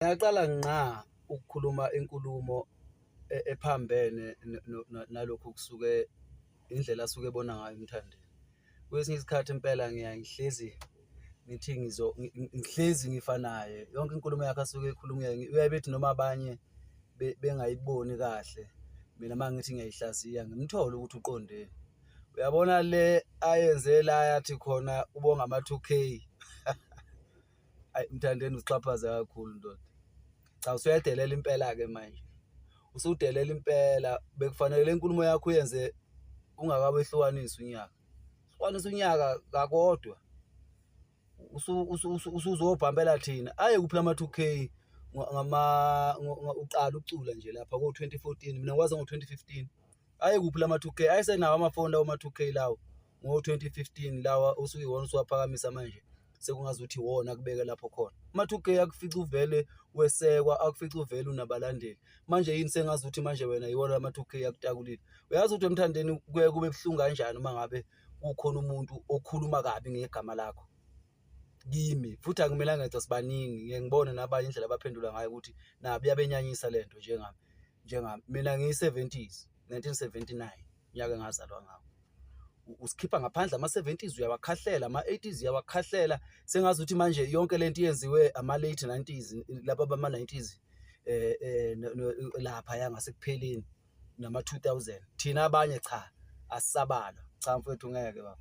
Ngiyaqala ngqa ukukhuluma inkulumo ephambene nalokhu okusuke indlela asuke ebona ngayo uMthandeni. Kwesinye isikhathi impela ngiyaye ngihlezi ngithi ngihlezi ngifa naye. Yonke inkulumo yakhe asuke eyikhuluma uyaye bethi noma abanye bengayiboni kahle, mina uma ngithi ngiyayihlaziya ngimthole ukuthi uqondeni. Uyabona le ayenze la yathi khona ubonga ama-two K. ayi mthandeni usixhaphaze kakhulu ndoda cha usuyadelela impela-ke manje usudelela impela bekufanele le nkulumo yakho uyenze ungakawehlukanisi unyaka hlukanisa unyaka kakodwa usuzobhambela thina aye kuphi lama 2 k ngama uqala ucula nje lapha ko 2014 mina ngikwazi ngo 2015 aye kuphi lama 2 k ayesenawo amafoni lawo ma 2 k lawo ngo-2015 lawa osuke iwona usuwaphakamisa manje sekungazi ukuthi iwona akubeke lapho khona uma-2k akufica uvele wesekwa akufica uvele unabalandeli manje yini sengazi ukuthi manje wena iwona ama-2k akutakulile uyazi ukuthi emthandeni kuye kube buhlungu kanjani uma ngabe kukhona umuntu okhuluma kabi ngegama lakho kimi futhi akumelanga ngithi sibaningi ngeke ngibone nabanye indlela abaphendula ngayo ukuthi nabi yabenyanyisa le nto njengami njengami mina ngiyi-70s 1979 nyaka engazalwa ngawo usikhipha ngaphandle ama-70s uyawakhahlela ama-80s uyawakhahlela sengazi ukuthi manje yonke lento yenziwe ama-late 90s laba bama-90s eh, eh lapha ya ngasekupheleni nama-2000 thina abanye cha asisabalwa cha mfethu ngeke baba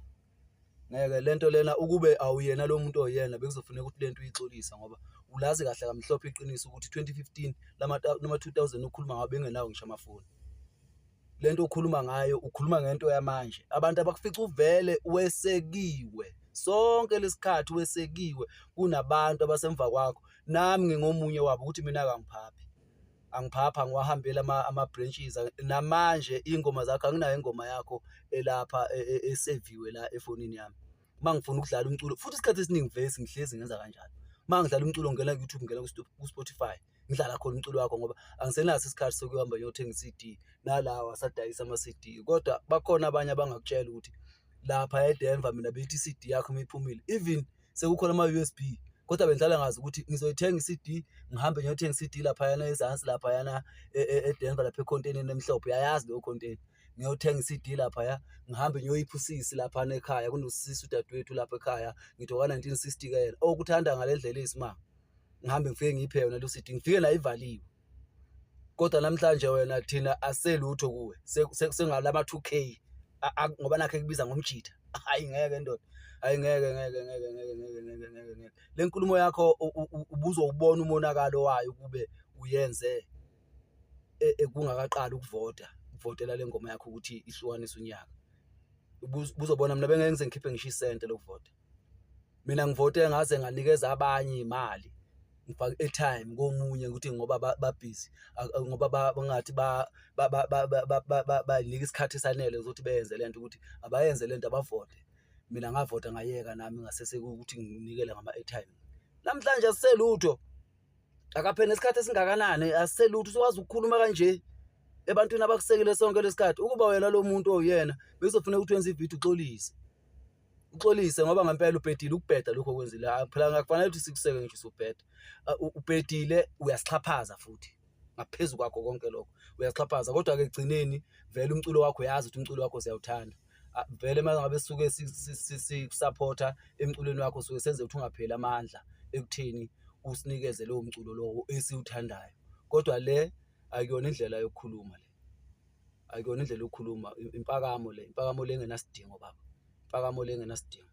ngeke lento lena ukube awuyena lo muntu oyena bekuzofuneka ukuthi lento uyixolisa ngoba ulazi kahle kamhlophe iqiniso ukuthi 2015 lama 2000 ukhuluma ngabe engenawo ngisho amafoni le nto ukhuluma ngayo ukhuluma ngento yamanje abantu abakufica uvele wesekiwe sonke lesikhathi wesekiwe kunabantu abasemva kwakho nami ngingomunye wabo ukuthi mina kangiphaphi angiphapha ngiwahambela ama-branches namanje iy'ngoma zakho anginayo ingoma yakho elapha e, e, eseviwe la efonini yami uma ngifuna ukudlala umculo futhi isikhathi esiningi vesi ngihlezi ngenza kanjalo uma ngidlala umculo ngena ku-youtube ngena ku-spotify ku ngidlala khona umculo wakho ngoba angisenaso isikhathi sokuhamba ngiyothenga i-CD nalawa asadayisa ama-CD kodwa bakhona abanye abangakutshela ukuthi lapha eDenver mina bethi i-CD yakho uma iphumile even sekukhona ama-USB kodwa bengidlala ngazi ukuthi ngizoyithenga i-CD ngihambe ngiyothenga i-CD laphayana ezansi laphayana e, e, eDenver lapha ekhontenini emhlophe uyayazi leyo khonteni ngiyothenga i-CD laphaya ngihambe ngiyoyipha usisi laphana ekhaya kunosisi udadewethu lapha ekhaya ngithi oka-1960 ke yena okuthanda ngale ndlela eyisimanga ngihambe ngifike ngiphe yona lo sidi ngifike la ivaliwe kodwa namhlanje wena thina aselutho kuwe sengalama 2k ngoba nakhe kubiza ngomjitha hayi ngeke ndoda hayi ngeke ngeke ngeke ngeke ngeke ngeke ngeke ngeke le nkulumo yakho ubuzo ubona umonakalo wayo kube uyenze e, e, kungakaqali ukuvota ukuvotela le ngoma yakho ukuthi ihlukanise unyaka ubuzobona mina bengeke ngize ngikhiphe ngisho isente lokuvota mina ngivote ngaze nganikeza abanye imali ngifaka airtime komunye ukuthi ngoba babhizi ngoba bangathi banika isikhathi esanele ukuthi beyenze lento ukuthi abayenze lento abavote mina ngavota ngayeka nami ngasese ukuthi nginikele ngama airtime namhlanje asiselutho akaphela isikhathi esingakanani asiselutho siwazi ukukhuluma kanje ebantwini abakusekele sonke lesikhathi ukuba wena lo muntu oyena bezofuneka ukuthi wenze ividiyo uxolise uxolise ngoba ngempela ubhedile ukubheda lokho okwenzile phela ngakufanele ukuthi sikuseke ngisho usubheda ubhedile uyasixhaphaza futhi ngaphezu kwakho konke lokho uyasixhaphaza kodwa ke egcineni vele umculo wakho uyazi ukuthi umculo wakho siyawuthanda vele uma ngabe sisuke sikusapotha emculweni wakho suke senze ukuthi ungapheli amandla ekutheni usinikeze lowo mculo lowo esiwuthandayo kodwa le akuyona indlela yokukhuluma le ayikona indlela yokukhuluma impakamo le impakamo le engenasidingo baba impakamo le engenasidingo